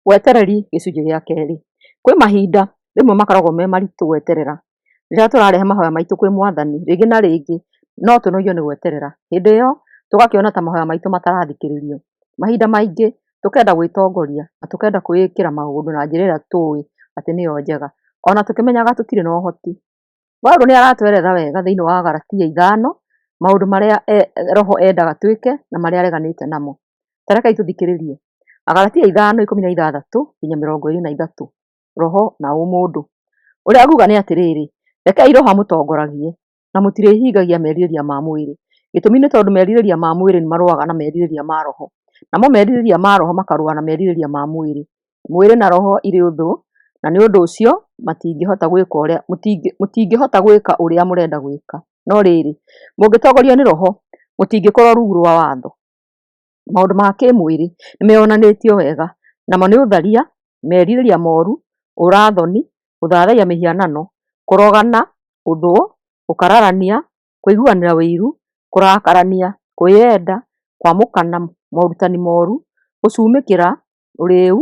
Wetereri gĩcunjĩ gĩa kerĩ. Kwĩ mahinda rĩmwe makoragwo me maritũ gweterera. Rĩrĩa tũrarehe mahoya maitũ kwĩ Mwathani, rĩngĩ na rĩngĩ no tũnogio nĩ gweterera. Hĩndĩ ĩyo tũgakĩona ta mahoya maitũ matarathikĩrĩrio. Mahinda maingĩ tũkenda gwĩtongoria na tũkenda kwĩĩkĩra maũndũ na njĩra ĩrĩa tũĩ atĩ nĩyo njega, ona tũkĩmenyaga tũtirĩ na ũhoti. Paulo nĩ aratwerethera wega thĩinĩ wa Galatia ithano maũndũ marĩa e, roho endaga twĩke na marĩa areganĩte namo. Tarekai tũthikĩrĩrie. Agalatia ithano ikũmi na ithathatũ nginya mĩrongo ĩrĩ na ithatũ. Roho na ũmũndũ. Ũrĩa aguga nĩ atĩrĩrĩ, rekei roho amũtongoragie na mũtirĩhingagia merirĩria ma mwĩrĩ. Gĩtũmi nĩ tondũ merirĩria ma mwĩrĩ nĩ marũaga na merirĩria ma roho, namo merirĩria ma roho makarũa na merirĩria ma mwĩrĩ, Mwĩrĩ na roho irĩ ũthũ, na nĩ ũndũ ũcio matingĩhota gwĩka ũrĩa mũtingĩhota gwĩka ũrĩa mũrenda gwĩka. No rĩrĩ, mũngĩtongorio nĩ roho, mũtingĩkorwo rungu rwa watho. Maũndũ ma kĩmwĩrĩ nĩmeyonanĩtio wega, namo nĩ ũtharia, merirĩria moru, ũũra-thoni, gũthathaiya mĩhianano, kũrogana, ũthũ, gũkararania, kũiguanĩra ũiru, kũrakarania, kwĩyenda, kwamũkana morutani moru, gũcumĩkĩra, ũrĩĩu,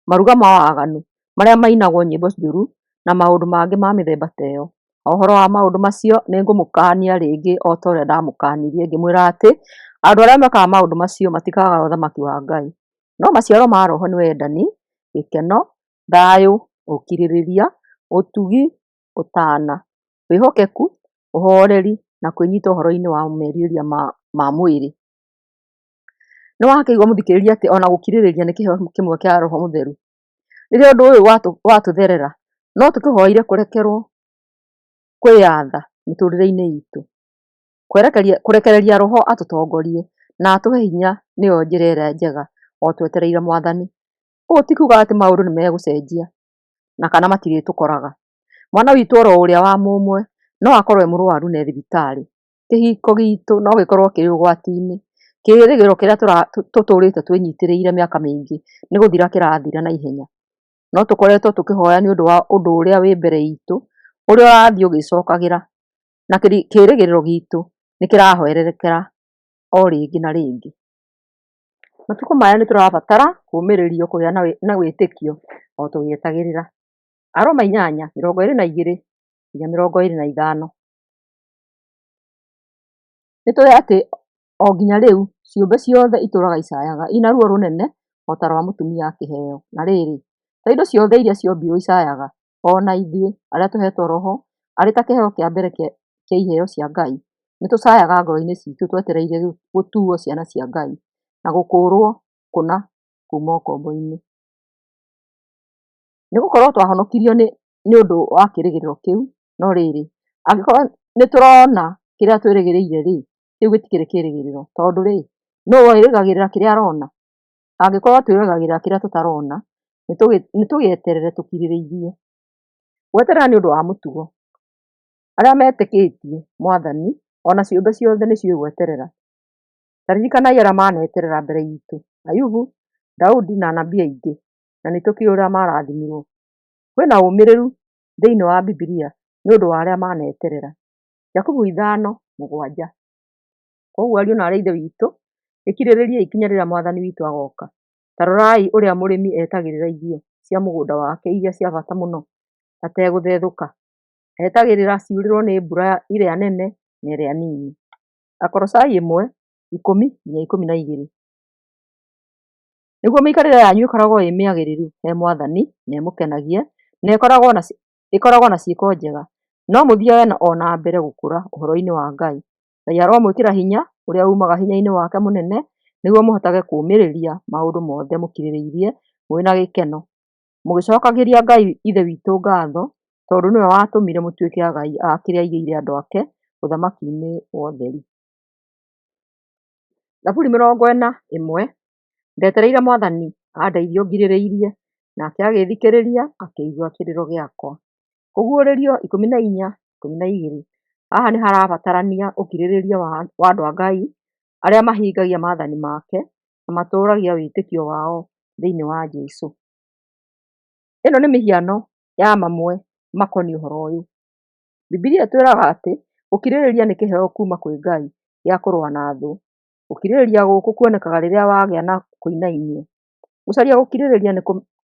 maruga ma waganu marĩa mainagwo nyĩmbo njũru, na maũndũ mangĩ ma mĩthemba ta ĩyo. O ũhoro wa maũndũ macio nĩ ngũmũkaania rĩngĩ o ta ũrĩa ndaamũkaanirie, ngĩmwĩra atĩ andũ arĩa mekaga maũndũ macio matikaaga Ũthamaki wa Ngai. No maciaro ma Roho nĩ wendani, gĩkeno, thayũ, ũkirĩrĩria, ũtugi, ũtaana, wĩhokeku, ũhooreri, na kwĩnyita ũhoro-inĩ wa merirĩria ma mwĩrĩ. Nĩ wahakĩirwo mũthikĩrĩria atĩ ona gũkirĩrĩria nĩ kĩheo kĩmwe kĩa Roho Mũtheru. Rĩrĩa ũndũ ũyũ watũtherera, no tũkĩhoire kũrekerwo kwĩyatha mĩtũrĩre-inĩ itũ. Kũrekereria Roho atũtongorie na atũhe hinya nĩyo njĩra ĩrĩa njega o twetereire Mwathani. Ũũ ti kuga atĩ maũndũ nĩ megũcenjia na kana matirĩtũkoraga. Mwana witũ oro ũrĩa wa mũmwe no akorwo e mũrwaru na e thibitarĩ. kĩhiko gitũ no gĩkorwo kĩrĩ ũgwati-inĩ. Kĩĩrĩgĩrĩro kĩrĩa tũtũrĩte twĩnyitĩrĩire mĩaka mĩingĩ nĩ gũthira kĩrathira na ihenya. No tũkoretwo tũkĩhoya nĩ ũndũ wa ũndũ ũrĩa wĩ mbere itũ, ũrĩa ũrathiĩ ũgĩcokagĩra, na kĩĩrĩgĩrĩro gitũ nĩ kĩrahwererekera o rĩngĩ na rĩngĩ. Matukũ maya nĩ tũrabatara kũũmĩrĩrio kũgĩa na wĩtĩkio o tũgĩetagĩrĩra. Aroma inyanya, mĩrongo ĩĩrĩ na igĩrĩ nginya mĩrongo ĩĩrĩ na ithano. Nĩ tũĩ atĩ o nginya rĩu ciũmbe ciothe itũũraga icayaga, ina ruo rũnene o ta rwa mũtumia akĩheo. Na rĩrĩ, to indo ciothe iria ciombirũo icayaga, o na ithuĩ arĩa tũheetwo roho arĩ ta kĩheo kĩa mbere kĩa iheo cia Ngai, nĩ tũcayaga ngoro-inĩ citũ twetereire gũtuuo ciana cia Ngai na gũkũũrũo kũna kuuma ũkombo-inĩ. Nĩ gũkorũo twahonokirio nĩ ũndũ wa kĩĩrĩgĩrĩro kĩu, No rĩrĩ, angĩkorwo nĩ tũrona kĩrĩa twĩrĩgĩrĩire rĩ, kĩu gĩtikĩrĩ kĩĩrĩgĩrĩro. Tondũ rĩ, nũ wĩrĩgagĩrĩra kĩrĩa arona? Angĩkorwo twĩrĩgagĩrĩra kĩrĩa tũtarona, nĩ tũgĩeterere tũkirĩrĩirie. Gweterera nĩ ũndũ wa mũtugo. Arĩa metĩkĩtie Mwathani, o na ciũmbe ciothe nĩ ciũĩ gweterera. Ta ririkanai arĩa maneterera mbere itũ, Ayubu, Daudi na anabii aingĩ, na nĩ tũkĩũĩ ũrĩa marathimirwo. Kwĩna ũmĩrĩru thĩinĩ wa Bibilia nĩ ũndũ wa arĩa maneterera. Jakubu ithano mũgwanja. Koguo ariũ na arĩ ithe witũ, ĩkirĩrĩria ikinya rĩrĩa mwathani witũ agoka. Ta rorai ũrĩa mũrĩmi etagĩrĩra irio cia mũgũnda wake iria cia bata mũno ategũthethũka. Etagĩrĩra ciurĩrwo nĩ mbura ĩrĩa nene na ĩrĩa nini. Akorocai ĩmwe, ikũmi nginya ikũmi na igĩrĩ. Nĩguo mĩikarĩre yanyu ĩkoragwo ĩ mĩagĩrĩru he Mwathani na ĩmũkenagie na ĩkoragwo na ciĩko njega, no mũthiage o na mbere gũkũra ũhoro-inĩ wa Ngai. Ngai aromwĩkĩra hinya ũrĩa umaga hinya-inĩ wake mũnene nĩguo mũhotage kũũmĩrĩria maũndũ mothe mũkirĩrĩirie mũrĩ na gĩkeno, mũgĩcokagĩria Ngai Ithe witũ ngatho tondũ nĩwe watũmire mũtuĩke agai a kĩrĩa aigĩire andũ ake, ũthamaki-inĩ wa ũtheri. Ndetereire Mwathani andeithie ũngirĩrĩirie, nake agĩthikĩrĩria, akĩigua kĩrĩro gĩakwa. Kũguũrĩrio ikũmi na inya ikũmi na igĩrĩ. Haha nĩ harabatarania ũkirĩrĩria wa andũ a Ngai arĩa mahingagia maathani make na matũũragia wĩtĩkio wao thĩinĩ wa Jesũ. Ĩno nĩ mĩhiano ya mamwe makoniĩ ũhoro ũyũ. Bibilia ĩtwĩraga atĩ gũkirĩrĩria nĩ kĩheo kuuma kwĩ Ngai gĩa kũrũa na thũ. Gũkirĩrĩria gũkũ kuonekaga rĩrĩa wagĩa na kũinainio. Gũcaria gũkirĩrĩria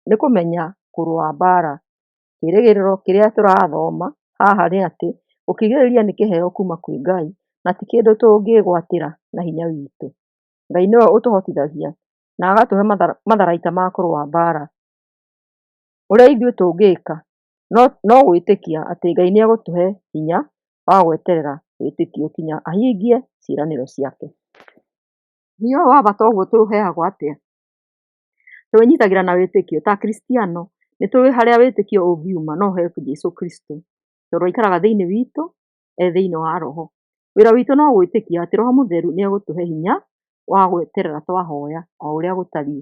nĩ kũmenya kũrũa mbaara. Kĩĩrĩgĩrĩro kĩrĩa tũrathoma haha nĩ atĩ gũkirĩrĩria nĩ kĩheo kuuma kwĩ Ngai na ti kĩndũ tũngĩĩgwatĩra na hinya witũ. Ngai nĩwe ũtũhotithagia na agatũhe matharaita ma kũrũa mbaara. Ũrĩa ithuĩ tũngĩka no gwĩtĩkia atĩ Ngai nĩegũtũhe hinya wa gweterera wĩtĩkio nginya ahingie ciĩranĩro ciake. Hinya ũyũ wa bata ũguo tũũheagwo atĩa? Tũũnyitagĩra na wĩtĩkio. Ta Akristiano, nĩ tũĩ harĩa wĩtĩkio ũngiuma no he Jesũ Kristo, tondũ aikaraga thĩinĩ witũ e thĩinĩ wa roho. Wĩra witũ no gwĩtĩkia atĩ roho mũtheru nĩ egũtũhe hinya wa gweterera twahoya o ũrĩa gũtariĩ.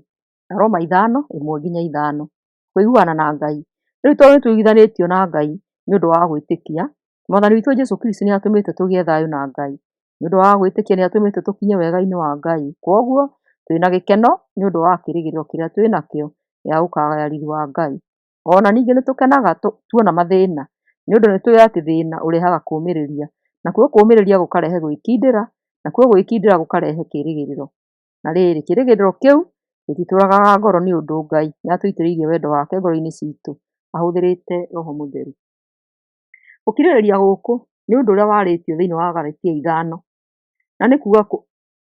Aroma ithano, ĩmwe nginya ithano. kũiguana na Ngai. Rĩu tondũ nĩ tũiguithanĩtio na Ngai nĩ ũndũ wa gwĩtĩkia, Mwathani witũ Jesu Kristo nĩ atũmĩte tũgĩe thayũ na Ngai. Nĩ ũndũ wa gwĩtĩkia nĩ atũmĩte tũkinye wega-inĩ wa Ngai. Kwoguo twĩ na gĩkeno nĩ ũndũ wa kĩrĩgĩrĩro kĩrĩa twĩ nakĩo gĩa gũkagaya riri wa Ngai. O na ningĩ nĩ tũkenaga tuona mathĩna, nĩ ũndũ nĩ tũĩ atĩ thĩna ũrehaga kũũmĩrĩria, nakuo kũũmĩrĩria gũkarehe gwĩkindĩra, nakuo gwĩkindĩra gũkarehe kĩĩrĩgĩrĩro. Na rĩrĩ, kĩĩrĩgĩrĩro kĩu gĩtitũũragaga ngoro nĩ ũndũ Ngai nĩ atũitĩrĩirie wendo wake ngoro-inĩ citũ ahũthĩrĩte roho mũtheru. Gũkirĩrĩria gũkũ nĩ ũndũ ũrĩa warĩtio thĩinĩ wa Galatia ithano, na nĩ kuuga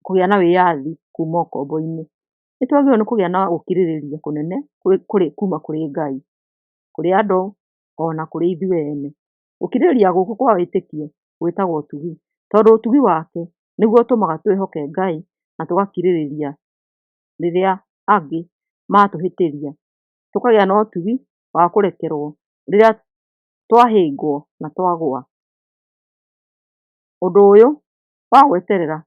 kũgĩa na wĩyathi kuuma ũkombo-inĩ. Nĩ twagĩrĩirũo nĩ kũgĩa na gũkirĩrĩria kũnene kuuma kũrĩ Ngai, kũrĩ andũ, o na kũrĩ ithuĩ ene. Gũkirĩrĩria gũkũ kwa wĩtĩkio gwĩtagwo ũtugi, tondũ ũtugi wake nĩguo ũtũmaga twĩhoke Ngai na tũgakirĩrĩria rĩrĩa angĩ matũhĩtĩria. Tũkagĩa na ũtugi wa kũrekerwo rĩrĩa twahĩngwo na twagwa. Ũndũ ũyũ wa gweterera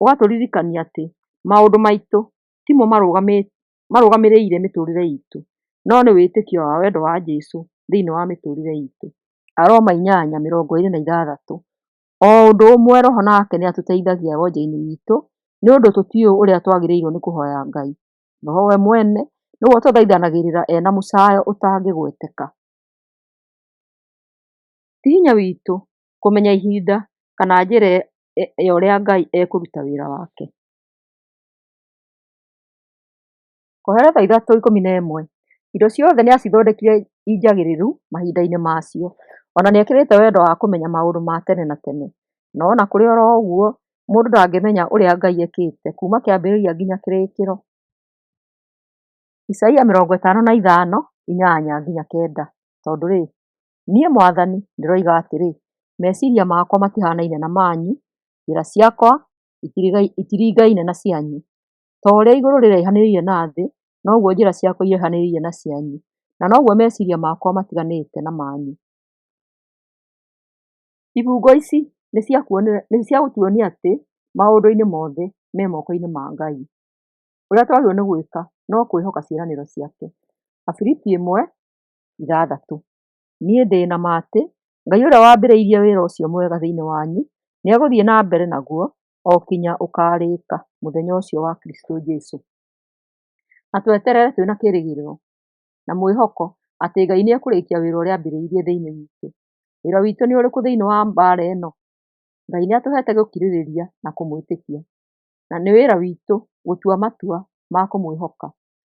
ũgatũririkania atĩ maũndũ maitũ timo marũgamĩte. marũgamĩrĩire mĩtũrĩre itũ, no nĩ wĩtĩkio wa wendo wa Jesũ thĩinĩ wa mĩtũrĩre itũ. Aroma inyanya mĩrongo ĩrĩ na ithathatũ, O ũndũ ũmwe roho nake nĩ atũteithagia wonje-inĩ witũ nĩ ũndũ tũtiũĩ ũrĩa twagĩrĩirwo nĩ kũhoya Ngai. Roho we mwene nĩwe ũtũthaithanagĩrĩra ena mũcayo ũtangĩgweteka. Ti hinya witũ kũmenya ihinda kana njĩra ya ũrĩa Ngai ekũruta wĩra wake. Kũhera thaa ithatũ ikũmi na ĩmwe, indo ciothe nĩ acithondekire injagĩrĩru mahinda-inĩ macio, o na nĩ ekĩrĩte wendo wa kũmenya maũndũ ma tene na tene. No o na kũrĩ o ro ũguo, mũndũ ndangĩmenya ũrĩa Ngai ekĩte kuuma kĩambĩrĩria nginya kĩrĩkĩro. Isaia mĩrongo ĩtano na ithano, inyanya nginya kenda, Tondũ rĩ, niĩ mwathani ndĩroiga atĩrĩ, meciria makwa matihanaine na manyu, njĩra ciakwa itiringaine na cianyu. Ta ũrĩa igũrũ rĩraihanĩrĩirie na thĩ, noguo njĩra ciakwa iraihanĩrĩirie na cianyu, na noguo meciiria makwa matiganĩte na manyu. Ibungo ici nĩ cia kuonia, nĩ cia gũtuonia atĩ, maũndũ-inĩ mothe me moko-inĩ ma Ngai. Ũrĩa twagĩrĩirwo nĩ gwĩka no kwĩhoka ciĩranĩro ciake. Abiriti ĩmwe, ithathatũ. Niĩ ndĩ na ma atĩ, Ngai ũrĩa wambĩrĩirie wĩra ũcio mwega thĩiniĩ wanyu, nĩ egũthiĩ na mbere naguo, o kinya ũkarĩka mũthenya ũcio wa Kristũ Jesũ. Na tweterere twĩna kĩrĩgĩrĩro na mwĩhoko atĩ Ngai nĩ ekũrĩkia wĩra ũrĩa ambĩrĩirie thĩinĩ witũ. Wĩra witũ nĩ ũrĩkũ thĩinĩ wa mbaara ĩno? Ngai nĩ atũhete gũkirĩrĩria na kũmwĩtĩkia. Na nĩ wĩra witũ gũtua matua ma kũmwĩhoka.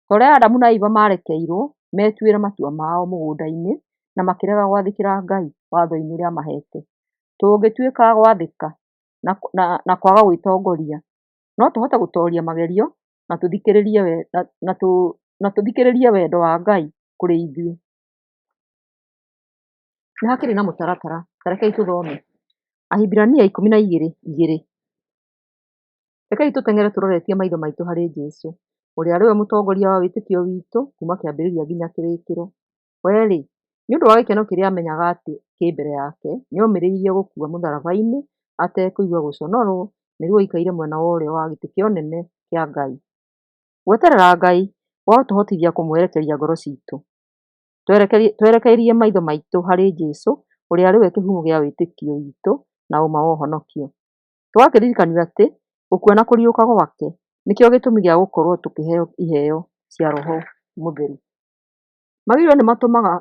Ta ũrĩa Adamu na Iva maarekeirwo metuĩre matua mao mũgũnda-inĩ na makĩrega gwathĩkĩra Ngai watho-inĩ ũrĩa amahete. Tũngĩtuĩka a gwathĩka, na kwaga gwĩtongoria. No tũhote gũtoria magerio na tũthikĩrĩrie wendo wa Ngai kũrĩ ithuĩ. Nĩ hakĩrĩ na mũtaratara, ta rekei tũthome, Ahibirania ikũmi na igĩrĩ igĩrĩ. Rekei tũteng'ere tũroretie maitho maitũ harĩ Jesũ, ũrĩa arĩ we mũtongoria wa wĩtĩkio witũ kuma kĩambĩrĩria nginya kĩrĩkĩro. We-rĩ, nĩ ũndũ wa gĩkeno kĩrĩa aamenyaga atĩ kĩ mbere yake, nĩ omĩrĩirie gũkua mũtharaba-inĩ atekũigua gũconorwo nĩguo aikaire mwena wa ũrĩo wa gĩtĩ kĩa ũnene kĩa Ngai. Gweterera Ngai gũgatũhotithia kũmwerekeria ngoro citũ twerekeirie maitho maitũ harĩ Jesu ũrĩa arĩ we kĩhumo kĩa wĩtĩkio witũ na ũma wa ũhonokio. Tũgakĩririkanio atĩ gũkua na kũriũka gwake nĩkĩo gĩtũmi gĩa gũkorũo tũkĩheo iheo cia roho mũtheru. magĩrĩirwo nĩ matũmaga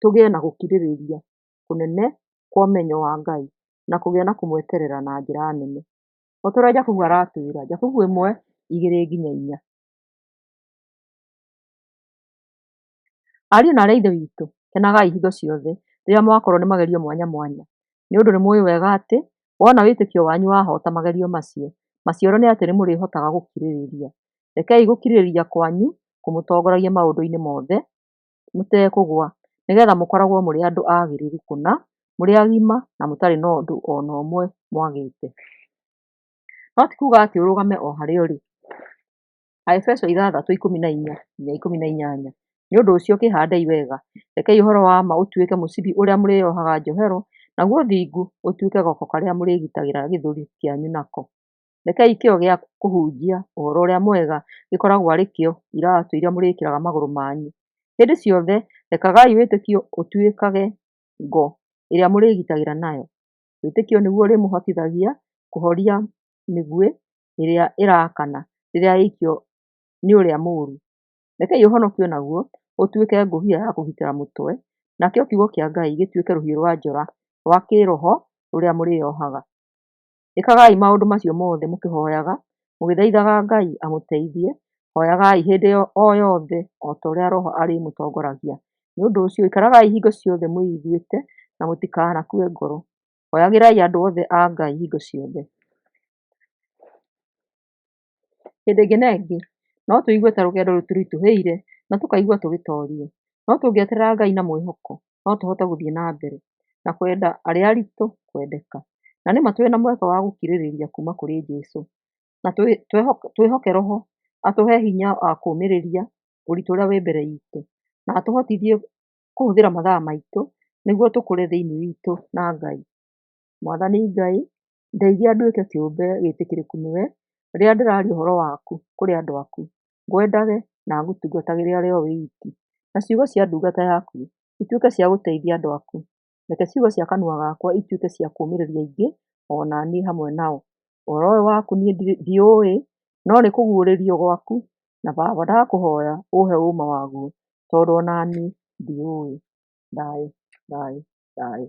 tũgĩe na gũkirĩrĩria kũnene kwa ũmenyo wa Ngai na kũgĩa na kũmweterera na njĩra nene. O ta ũrĩa Jakubu aratwĩra, Jakubu ĩmwe, igĩrĩ nginya inya. Ariũ na aarĩ a Ithe witũ, kenagai hingo ciothe rĩrĩa mwakorwo nĩ magerio mwanya mwanya, nĩ ũndũ nĩ mũĩ wega atĩ wona wĩtĩkio wanyu wahota magerio macio, maciaro nĩ atĩ nĩ mũrĩhotaga gũkirĩrĩria. Rekei gũkirĩrĩria kwanyu kũmũtongoragia maũndũ-inĩ mothe mũtekũgwa, nĩgetha mũkoragwo mũrĩ andũ agĩrĩru kũna, mũrĩ agima na mũtarĩ na ũndũ o na ũmwe mwagĩte. No ti kuuga atĩ ũrũgame o harĩa ũrĩ. Aefeso ithathatũ ikũmi na inya nginya ikũmi na inyanya, Nĩ ũndũ ũcio kĩhandei wega, rekei ũhoro wa ma ũtuĩke mũcibi ũrĩa mũrĩĩohaga njohero, naguo ũthingu ũtuĩke goko karĩa mũrĩĩgitagĩra gĩthũri kĩanyu nako. Rekei kĩyo gĩa kũhunjia ũhoro ũrĩa mwega gĩkoragwo arĩ kĩo iratũ iria mũrĩkĩraga magũrũ manyu. Hĩndĩ ciothe rekagai wĩtĩkio ũtuĩkage ngo ĩrĩa mũrĩĩgitagĩra nayo. Wĩtĩkio nĩguo ũrĩmũhotithagia kũhoria mĩguĩ ĩrĩa ĩrakana rĩrĩa yaikio nĩ ũrĩa mũũru. Rekei ũhonokio naguo ũtuĩke ngũbia ya kũgitĩra mũtwe, nakĩo kiugo kĩa Ngai gĩtuĩke rũhiũ rwa njora rwa kĩĩroho rũrĩa mũrĩĩohaga. Ĩkagai maũndũ macio mothe mũkĩhoyaga, mũgĩthaithaga Ngai amũteithie. Hoyagai hĩndĩ o yothe o ta ũrĩa Roho arĩmũtongoragia. Nĩ ũndũ ũcio, ikaragai hingo ciothe mwĩiguĩte na mũtikanakue ngoro. Hoyagĩrai andũ othe a Ngai hingo ciothe. Hĩndĩ ĩngĩ na ĩngĩ, no tũigue ta rũgendo rũtũritũhĩire na tũkaigua tũgĩtorio. No tũngĩeterera Ngai na mwĩhoko, no tũhote gũthiĩ na mbere na kwenda arĩa aritũ kwendeka. Na nĩ ma twĩ na mweke wa gũkirĩrĩria kuuma kũrĩ Jesu, na twĩhoke Roho atũhe hinya wa kũũmĩrĩria ũritũ ũrĩa wĩ mbere itũ, na atũhotithie kũhũthĩra mathaa maitũ nĩguo tũkũre thĩinĩ witũ na Ngai. Mwathani Ngai, ndeithia nduĩke kĩũmbe gĩtĩkĩrĩku nĩwe, rĩrĩa ndĩraria ũhoro waku kũrĩ andũ aku, ngwendage na ngũtungatagĩre ũrĩ o wiki. Na ciugo cia ndungata yaku ituĩke cia gũteithia andũ aku, reke ciugo cia kanua gakwa ituĩke cia kũmĩrĩria aingĩ ona niĩ hamwe nao. Ũhoro ũyũ waku niĩ ndiũĩ, no nĩ kũguũrĩrio gwaku, na Baba ndakũhoya ũhe ũma waguo, tondũ ona niĩ ndiũĩ. Thayũ, thayũ, thayũ.